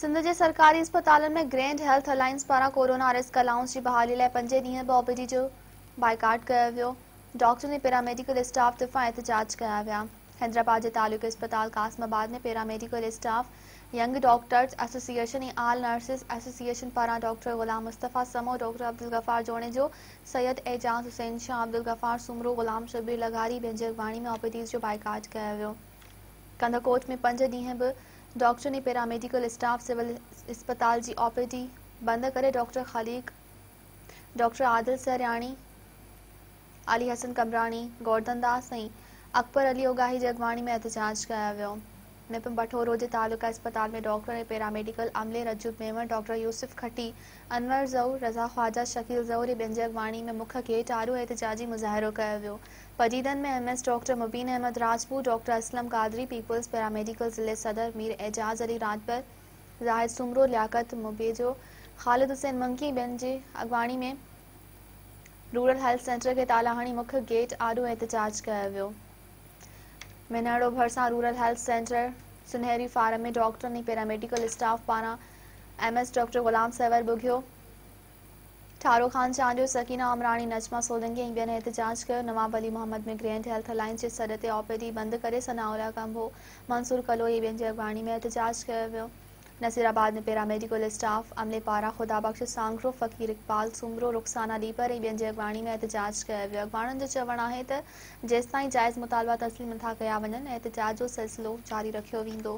سنڌ جي سرڪاري اسپتالن ۾ گرينڊ هيلٿ الائنس پاران ڪورونا ريسڪ الاونس جي بحالي لاء پنجين ڏينهن به او پي ڊي جو بائيڪاٽ ڪيو ويو ڊاڪٽرن ۽ پيراميڊيڪل اسٽاف طرفان احتجاج ڪيا ويا حيدرآباد جي تعلقي اسپتال Qasimabad ۾ paramedical staff young doctors association ۽ all nurses association پاران ڊاڪٽر غلام مصطفيٰ سمو ڊاڪٽر عبدالغفار جوڻيجو سيد اعجاز حسين شاهه عبدالغفار سومرو غلام شبير لغاري بينجر واڻي ۾ او پي ڊيز جو بائيڪاٽ ڪيو ويو ڪنڌڪوٽ ۾ پنج ڏينهن به ڊاڪٽرن ۽ پيراميڊيڪل اسٽاف سول اسپتال جي او پي ڊي بند ڪري ڊاڪٽر خليق، ڊاڪٽر عادل سهرياڻي، علي حسن قمبراڻي، گوردن داس ۽ اڪبر علي اوڳاهي جي اڳواڻي ۾ احتجاج ڪيو ويو. م پ بٺورو جي تعلقه اسپتال ۾ ڊاڪٽر ۽ پيراميڊيڪل عملي رجب ميمڻ، ڊاڪٽر يوسف کٽي، انور زئو، رضا خواجا، شڪيل زئو ري ٻين جي اڳواڻي ۾ مک گيٽ آڏو احتجاجي مظاهرو ڪيو ويو. پجيدن ۾ M S doctor Mubeen Ahmed Rajput, doctor Aslam Qadri, peoples paramedical ضلعي صدر مير اعجاز علي راڄپر، زاهد سومرو، لياقت مٻيجو، خالد حسين منگي ٻين جي اڳواڻي ۾ رورل هيلٿ سينٽر کي تالا هڻي مک گيٽ آڏو احتجاج ڪيو ويو. مينهڙو ڀرسان رورل هيلٿ سينٽر سنهري فارم ۾ ڊاڪٽرن ۽ پيراميڊيڪل اسٽاف پاران M S doctor Ghulam Sarwar Bughio, Tharo Khan Chandio, Sakina Amrani, Najma Solangi ۽ ٻين احتجاج ڪيو، Nawab Ali Muhammad ۾ grand health alliance جي سڏ تي او پي ڊي بند ڪري ثناء الله ڪنڀو، منصور ڪلوئي ۽ ٻين جي اڳواڻي ۾ احتجاج ڪيو ويو، نصير آباد ۾ پيراميڊيڪل اسٽاف عملي پاران خدا بخش سانگرو، فقير اقبال سومرو، رخسانه ڏيپر ۽ ٻين جي اڳواڻي ۾ احتجاج ڪيو ويو، اڳواڻن جو چوڻ آهي ته جيستائين جائز مطالبا تسليم نٿا ڪيا وڃن احتجاج جو سلسلو جاري رکيو ويندو.